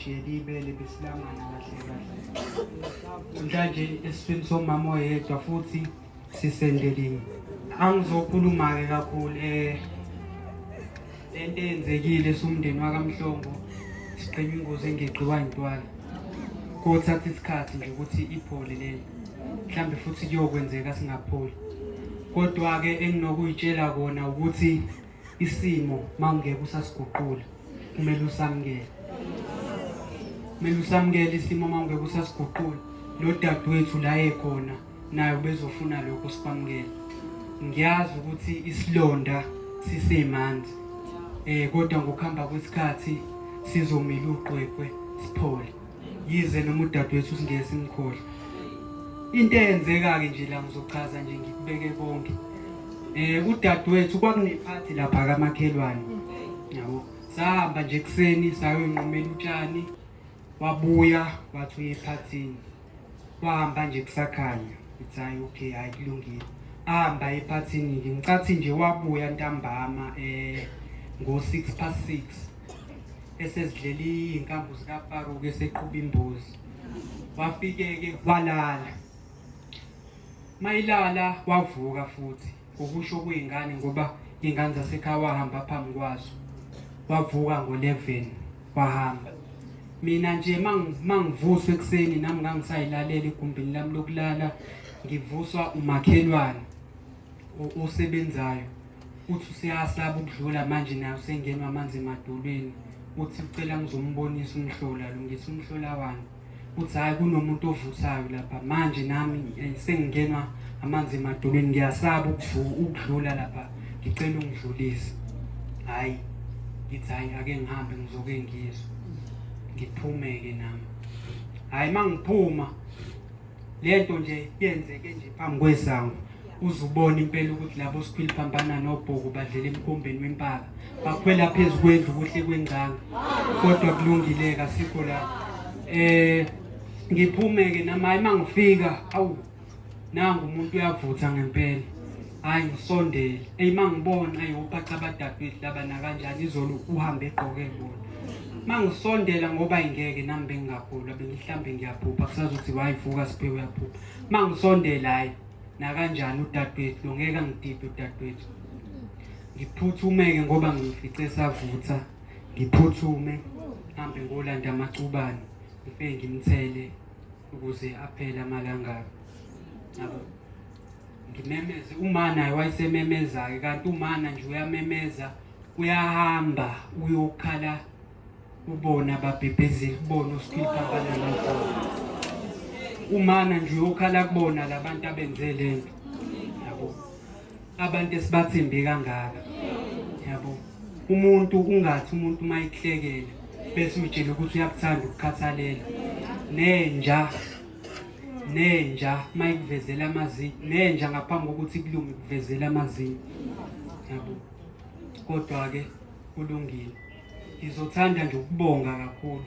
Shiyelibele besilangana kahle kahle. Mhlanje esifini somama oyedwa futhi sisendeliwe. Angizokhuluma ke kakhulu eh lento eyenzekile somndeni wakamhlongo siqhenya ingozi engigqiwa intwala. Kothatha isikhathi nje ukuthi iphole leli. Mhlambe futhi kuyokwenzeka singapholi. Kodwa ke enginokuyitshela kona ukuthi isimo mawungeke usasiguqula kumele usamukele kumele usamukele isimo mawungeke usasiguqula lo dadewethu la ekhona naye ubezofuna lokho sikwamukele ngiyazi ukuthi isilonda sisemanzi eh kodwa ngokuhamba kwesikhathi sizomila uqweqwe siphole yize noma udadewethu usingeke simkhohle into eyenzeka-ke nje la ngizochaza nje ngikubeke konke um udadewethu kwakunephathi lapha kamakhelwane yabo sahamba nje ekuseni sayoyinqumela utshani wabuya wathi uye ephathini wahamba nje kusakhanya ithi hayi okay hayi kulungile ahamba ephathini-ke ngicathi nje wabuya ntambama um ngo-six past six esezidlele iy'nkambu zikafaro ke seqhuba imbuzi wafike-ke walala mayilala wavuka futhi ukusho kuyingane ngoba iy'ngane zasekhaya wahamba phambi kwazo wavuka ngo-11 wahamba mina nje mangivuswa ekuseni nami ngangisayilalela egumbini lami lokulala ngivuswa umakhelwane osebenzayo uthi useyasaba ukudlula manje naye usengenwa amanzi emadolweni uthi ucela ngizombonisa umhlola lungisa umhlola wani uthi hhayi kunomuntu ovuthayo lapha manje nami eh, sengingenwa amanzi emadolweni ngiyasaba ukudlula lapha ngicela ungidlulise hhayi ngithi hhayi ake ngihambe ngizoke ngizwe ngiphume-ke nami hhayi uma ngiphuma lento nje yenzeke nje phambi kwesango uzubona impela ukuthi labo siphili phambana nobhuku badlela emkombeni wempaka bakhwela phezu kwendlu kuhle kwengcanga kodwa kulungile kasikho la eh ngiphume ke namayi mangifika awu nangu umuntu uyavutha ngempela hayi ngisondele eyi uma ngibona ayi upacha abadabhile laba nakanjani izolo uhambe egqoke bona uma ngisondela ngoba ingeke nami bengingagula bengihlambe ngiyaphupha kusazothi wayivuka siphe uyaphupha uma ngisondela hayi nakanjani udadewethu lo ngeke angidide udadewethu ngiphuthumeke ngoba ngifice esavutha ngiphuthume hambe ngolanda amacubane ngifike ngimthele ukuze aphele amalangabi yabo ngimemeze uma naye wayesememeza-ke kanti umana nje uyamemeza uyahamba uyokhala ubona babhebhezeli kubona oskilpa abanamagolo umana nje uyokhala kubona labantu abenze le nto yabo abantu esibathembe kangaka yabo umuntu ungathi umuntu uma ikuhlekele bese utshele ukuthi uyakuthanda ukukhathalela nenja nenja mayikuvezela amazinyo nenja ngaphambi kokuthi kulunge kuvezela amazinyo yabo kodwa ke kulungile ngizothanda nje ukubonga kakhulu